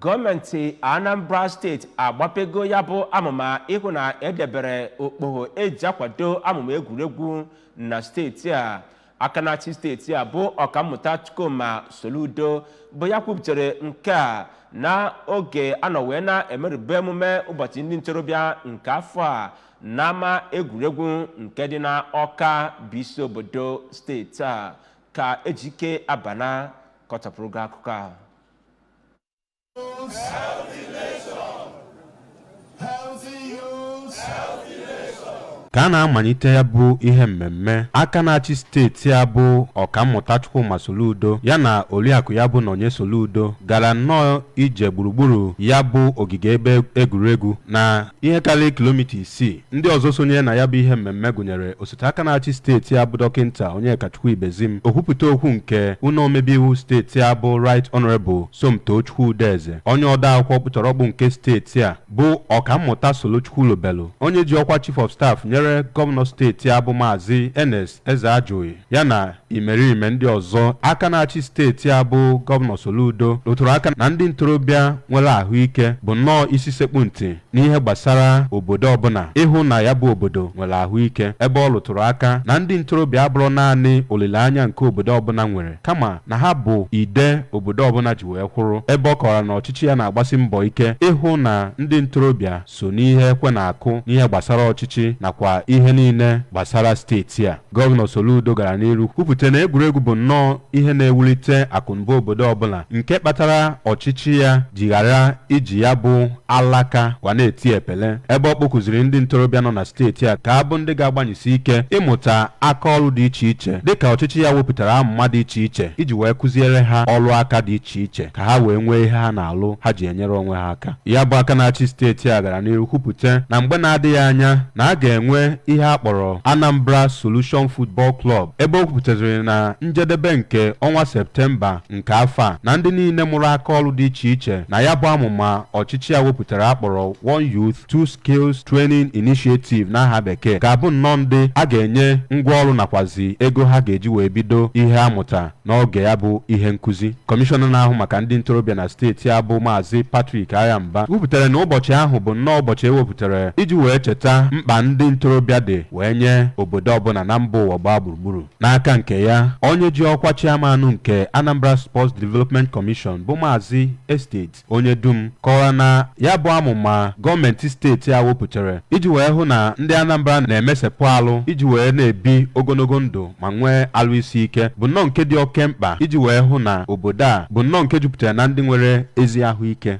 gọọmenti anambra steeti agbapego ya bụ amụma ịhụ na edebere okpogho eji akwado amụma egwuregwu na steeti a aka na-achị steeti a bụ ọkammụta chukwuma soludo bụ ya kwuputere nke a na oge a nọ wee na-emerube emume ụbọchị ndị ntorobịa nke afọ a n'ama egwuregwu nke dị na ọka bụ isi obodo steeti a ka ejike abana kọchapụrụ gị akụkọ a ka a na-amalite ya bụ ihe mmemme aka na-achị steeti a bụ ọkammụta Chukwuma Soludo ya na oriakụ ya bụ Nonye Soludo gara nnọọ ije gburugburu ya bụ ogige ebe egwuregwu na ihe karịrị kilomita isii Ndị ọzọ sonyere na ya bụ ihe mmemme gụnyere osote aka na-achị steeti a bụ dọkịnta Onyekachukwu Ibezim, okwupụta okwu nke ụlọ omebe iwu steeti a bụ Right Honourable Somtochukwu Udeze, onye ode akwụkwọ ọkpụtọrọkpụ nke steeti a bụ Ọkammụta Solo Chukwulobelu, onye ji ọkwa Chief of Staff nyere gọvanọ steeti a bụ Maazị Ernest Ezeajughi ya na imerime ndị ọzọ aka na-achị steeti a bụ Gọvanọ Soludo rụtụrụ aka na ndị ntorobịa nwere ahụike bụ nnọọ isi sekpu ntị n'ihe gbasara obodo ọbụla ịhụ na ya bụ obodo nwere ahụike ebe ọ rụtụrụ aka na ndị ntorobịa abụrọ naanị olileanya nke obodo ọbụla nwere kama na ha bụ ide obodo ọbụla ji wee kwụrụ ebe ọ kọwara na ọchịchị ya na-agbasi mbọ ike ịhụ na ndị ntorobịa so n'ihe ekwe na-akụ n'ihe gbasara ọchịchị nakwa ihe niile gbasara steeti a. Gọvanọ Soludo gara n'iru kwupụta na egwuregwu bụ nnọọ ihe na-ewulite akụnụba obodo ọbụla nke kpatara ọchịchị ya ji ghara iji ya bụ alaka kwa na-eti epele ebe ọ kpọkuziri ndị ntorobịa nọ na steeti a ka ha bụ ndị ga-agbanyesi ike ịmụta aka ọrụ dị iche iche dịka ọchịchị ya wepụtara amụma dị iche iche iji wee kụziere ha ọrụ aka dị iche iche ka ha wee nwee ihe ha na-alụ ha ji enyere onwe ha aka. Ya bụ aka na-achị steeti a gara n'iru kwupụta na mgbe na-adịghị anya na a ga-enwe ihe a kpọrọ Anambra Solution Football Club ebe o kwupụtaziri na njedebe nke ọnwa Septemba nke afọ a na ndị niile mụrụ aka ọrụ dị iche iche na ya bụ amụma ọchịchị a wepụtara a kpọrọ One Youth Two Skills Training Initiative n'aha bekee ga-abụ nnọọ ndị a ga-enye ngwa ọrụ nakwazi ego ha ga-eji wee bido ihe a mụta N'oge ya bụ ihe nkuzi, Kọmishọna na-ahụ maka ndị ntorobịa na steeti a bụ Maazị Patrick Agha Mba kwupụtara na ụbọchị ahụ bụ nnọọ ụbọchị ewepụtara iji wee cheta mkpa ndị ntorobịa dị wee nye obodo ọbụla na mba ụwa gbaa gburugburu. N'aka nke ya, onye ji ọkwa chairman nke Anambra Sports Development Commission bụ Maazị Estate Onyedum kọwara na ya bụ amụma gọọmenti steeti a wepụtara iji wee hụ na ndị Anambra na-emesepụ alụ iji wee na-ebi ogologo ndụ ma nwee alụ isi ike bụ nnọọ nke dị oke mkpa iji wee hụ na obodo a bụ nnọọ nke jupụtara na ndị nwere ezi ahụike